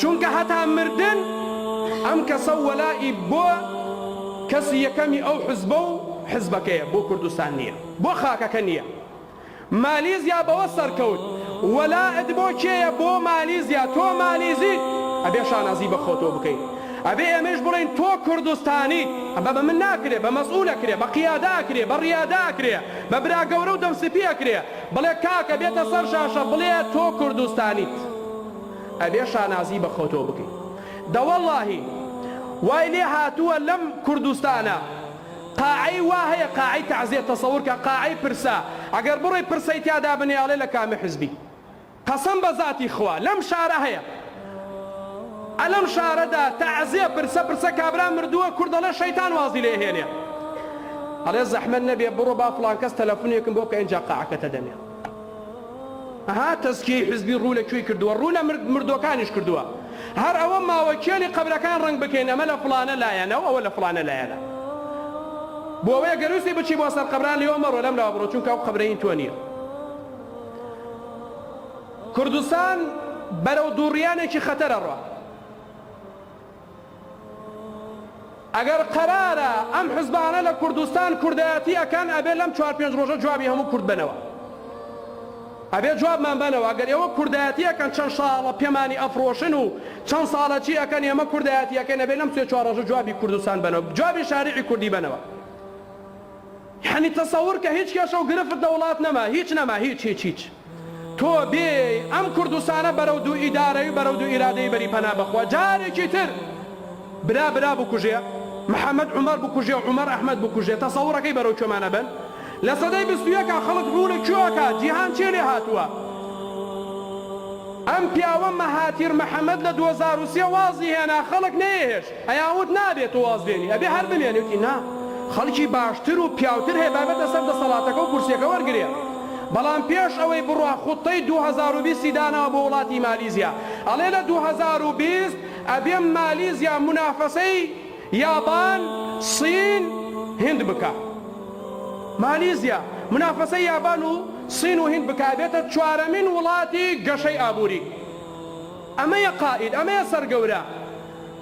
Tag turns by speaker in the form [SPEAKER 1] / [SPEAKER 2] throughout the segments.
[SPEAKER 1] چونکە هەتا مردن ئەم کەسەو وەلائی بۆ کەسی یەکەمی ئەو حزبە و حزبەکەیە بۆ کوردستان نیە بۆ خاکەکە نیە مالیزیا بەوە سەرکەوت وەلائت بۆ کێیە بۆ مالیزیا تۆ مالیزیت ئەبێ شانازی بە خۆتۆ بکەیت ئەبێ ئێمەیش بڵێین تۆ کوردستانیت ئەمە بە من ناکرێ بە مەسئول ئەکرێ بە قیادە ئەکرێ بە ڕیادە ئەکرێ بە برا گەورە و دەم سپی ئەکرێ بڵێ کاکە بێتە سەر شاشە بڵێ تۆ کوردستانیت. ئەبێ شانازی بە خۆتۆ بکەی. دەوەڵاهی وای لێ هاتووە لەم کوردستانە قاعەی وا هەیە قاعەی تەعزێت تەسەور کە قاعەی پرسە ئەگەر بڕۆی پرسەی تیادا بنێ ئەڵێ لە کامە حزبی قەسەم بە زاتی خوا لەم شارە هەیە ئە لەم شارەدا تەعزێ پرسە پرسە کابرا مردووە کورد ئەڵێ شەیتان وازی لێ هێنێ ئەڵێ زەحمەت نەبێ بڕۆ با فڵان کەس تەلەفونێکم بۆ بکە ئینجا قاعەکەتە دەمێ. ها تەزکیەی حزبی ڕوو لە کوێی کردووە ڕوو لە مردووەکانیش کردووە هەر ئەوە ماوە کێلی قەبرەکان ڕەنگ بکەین ئەمە لە فڵانە لایەنە و ئەوە لە فڵانە لایەنە بۆوەیە گەر ویستی بچی بۆ سەر قەبران لێوە مەڕۆ لەم لاوە بڕۆ چونکە ئەو قەبرە هین تۆ نییە کوردستان بەرەو دووڕیانێکی خەتەرە ڕۆ ئەگەر قەرارە ئەم حزبانە لە کوردستان کوردایەتی ئەکەن ئەبێ لەم چوار پێنج ڕۆژە جوابی هەموو کورد بەنەوە ئەبێ جوابمان بەنەوە ئەگەر ئێوە کوردایەتی ئەکەن چەند شاڵە پێمانی ئەفڕۆشن و چەند ساڵە چی ئەکەن ئێمە کوردایەتی ئەکەین ئەبێ لەم سێ چوار ڕۆژە جوابی کوردستان بەنەوە جوابی شاریعی کوردی بەنەوە. یەعنی تەسەور کە هیچ کێشە و گرفت لە وڵات نەما هیچ نەما هیچ هیچ هیچ تۆ بێێی ئەم کوردستانە بەرەو دوو ئیدارەی و بەرەو دوو ئیرادەی بەری پەنا بەخوا جارێکی تر برا برا بکوژێ محمد عومەر بکوژێ و عومەر ئەحمەد بکوژێ تەسەورەکەی بەرەو کوێمان ئەبەن لە سەدەی بیست و یەکا خەڵک ڕوونە کوێ ئەکا جیهان چێ لێ هاتووە ئەم پیاوە مەهاتیر محمد لە دوە زار و سێ وازی هێنا خەڵک نەیەهێشت ئەیا وت نابێ تۆ وازبێنی ئەبێ هەر بمێنی وتی نا خەڵکی باشتر و پیاوتر هەیە با بێتە سەر دەسەڵاتەکە و کورسیەکە وەرگرێ بەڵام پێش ئەوەی بڕوا خوتەی دوو هەزار و بیست ی داناوە بۆ وڵاتی مالیزیا ئەڵێ لە دوو هەزار و بیست ئەبێم مالیزیا مونافەسەی یابان سین هند بکا مالیزیا مونافەسەی یابان و سین و هند بکا ئەبێتە چوارەمین وڵاتی گەشەی ئابوری ئەمەیە قائید ئەمەیە سەرگەورە.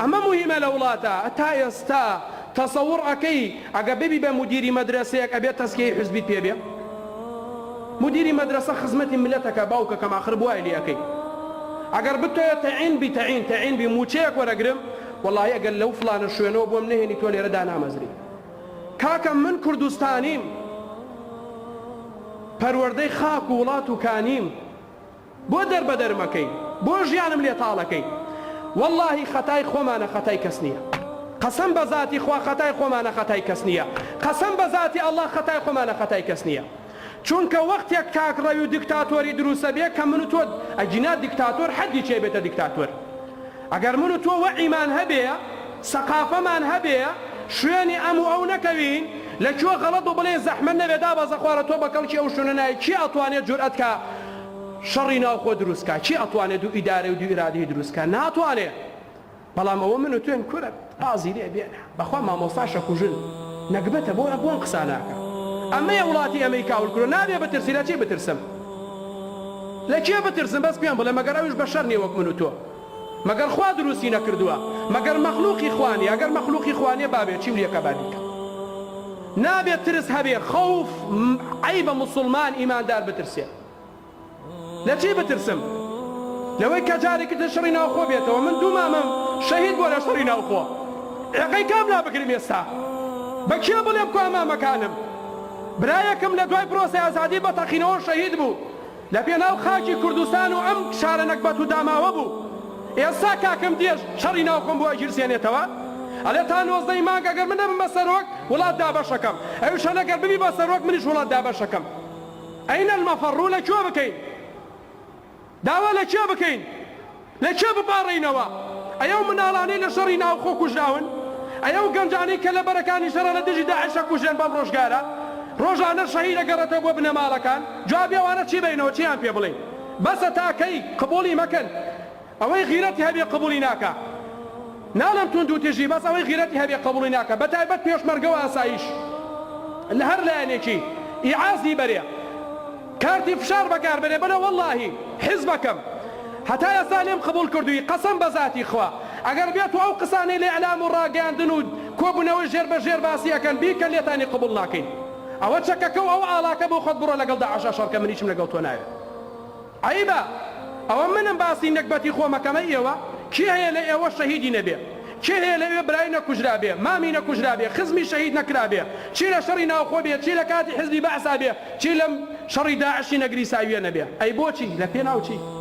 [SPEAKER 1] ئەمە موهیمە لە وڵاتە تا ئێستا تەسەور ئەکەی ئەگە ببی بە مودیری مەدرەسەیەک ئەبێ تەسکیەی حزبیت پێ بێ مودیری مەدرەسە خزمەتی ملەت ئەکا باوکەکەم ئاخر بوای لێ ئەکەی ئەگەر بتەوێ تەعین بی تەعین تەعین بی موچەیەک وەرەگرم وەڵاهی ئەگەر لەو فڵانە شوێنەوە بۆم نەهێنی تۆ لێرە دانامەزری کاکە من کوردستانیم پەروەردەی خاک و وڵات و کانیم. بۆ دەربەدەرم ئەکەی بۆ ژیانم لێ تاڵ ئەکەی وەڵاهی خەتای خۆمانە خەتای کەس نیە قەسەم بە زاتی خوا خەتای خۆمانە خەتای کەس نیە قەسەم بە زاتی ئەڵا خەتای خۆمانە خەتای کەس نیە چونکە وەختێک تاک ڕەوی و دکتاتۆری دروست ئەبێ کە من و تۆ ئەگینا دکتاتۆر حەدی چی ئەبێتە دکتاتۆر ئەگەر من و تۆ وەعیمان هەبێ سەقافەمان هەبێ شوێنی ئەم و ئەو نەکەوین لە کوێ غەڵەت بوو بڵێن زەحمەت نەبێ دابەزە خوارە تۆ بە کەڵکی ئەو شوێنە نایەی کێ ئەتوانێ جورئەت کا شەڕی ناوخۆ دروست کا کێ ئەتوانێ دوو ئیدارەی و دوو ئیرادەی دروست کا ناتوانێ بەڵام ئەوە من و تۆین کورە ڕازی لێ بێنە بەخوا مامۆستاش ئەکوژن نەگبەتە بۆ ئەبوو ئەم قسانە ئەکا ئەمەیە وڵاتی ئەمەی کاول کرۆ نابێ بترسی لە چی بترسم لە کێ بترسم بەس پێم بڵێ مەگەر ئەویش بەشەر نیە وەک من و تۆ مەگەر خوا دروستی نەکردووە مەگەر مەخلوقی خوا نیە گەر مەخلوقی خوا نیە بابێ چیم لێکە با بیکەم نابێ ترس هەبێ خەوف عەیبە موسڵمان ئیماندار بترسێ لە چی بترسم لەوەی کە جارێکی تر شەڕی ناوخۆ بێتەوە من دوو مامم شەهید بووە لە شەڕی ناوخۆ ڕێقەی کام لا بگرم ئێستا بە کێ بڵێم کوا مامەکانم برایەکم لە دوای پرۆسەی ئازادی بە تەقینەوە شەهید بوو لە پێناو خاکی کوردستان و ئەم شارە نەگبەت و داماوە بوو. ئێستا کاکم دێژ شەڕی ناو خۆم بۆ ئەگیرسێنێتەوە. ئەلێ تا نۆزدە ی مانگ ئەگەر من نەبم بە سەرۆک، وڵات دابەش ئەکەم. ئەویش ئەلێ گەر ببی بە سەرۆک منیش وڵات دابەش ئەکەم. ئەین المەفەڕ؟ ڕوو لە کوێ بکەین؟ داوا لە کێ بکەین؟ لە کێ بپاڕێینەوە؟ ئەی ئەو مناڵانەی لە شەڕی ناوخۆ کوژراون؟ ئەی ئەو گەنجانەی کە لە بەرەکانی شەڕە لە دژی داعش ئەکوژرێن بەم ڕۆژگارە؟ ڕۆژانەش شەهید ئەگەڕێتەوە بۆ بنەماڵەکان؟ جوابی ئەوانە چی بەینەوە چیان پێ بڵێین؟ بەسە تا کەی؟ قبوڵی مەکەن ئەوەی غیرەتی هەبێ قبوڵی ناکا ناڵێم توندوتیژی بەس ئەوەی غیرەتی هەبێ قبوڵی ناکا بە تایبەت پێشمەرگە و ئاسایش لە هەر لایەنێکی ئیعازی بەرێ. کارتی فشار بەکار بەرێ بەلە وەلاهی حیزبەکەم هەتا ئێستا لێم قبوڵ کردووی قەسەم بە زاتی خوا ئەگەر بێت و ئەو قسانەی لە ئیعلام و ڕاگەیاندن و کۆبونەوەی ژێر بە ژێر باسی ئەکەن بیکەن لێتانی قبوڵ ناکەین ئەوە چەکەکە و ئەو ئاڵاکە بۆ خۆت بڕۆ لەگەڵ داعش ئەشەڕ کە منیشم لەگەڵ تۆ ناوێت عەیبە ئەوە منم باسی نەگبەتی خۆم ئەکەم ئەی ئێوە کێ هەیە لە ئێوە شەهیدی نەبێ کێ هەیە لەوێ برای نەکوژرابێ، مامی نەکوژرابێ، خزمی شەهید نەکرابێ، چی لە شەڕی ناوخۆ بێ، چی لە کاتی حزبی بەعسا بێ، چی لەم شەڕی داعشی نەگریساوییە نەبێ؟ ئەی بۆچی؟ لە پێناو چی؟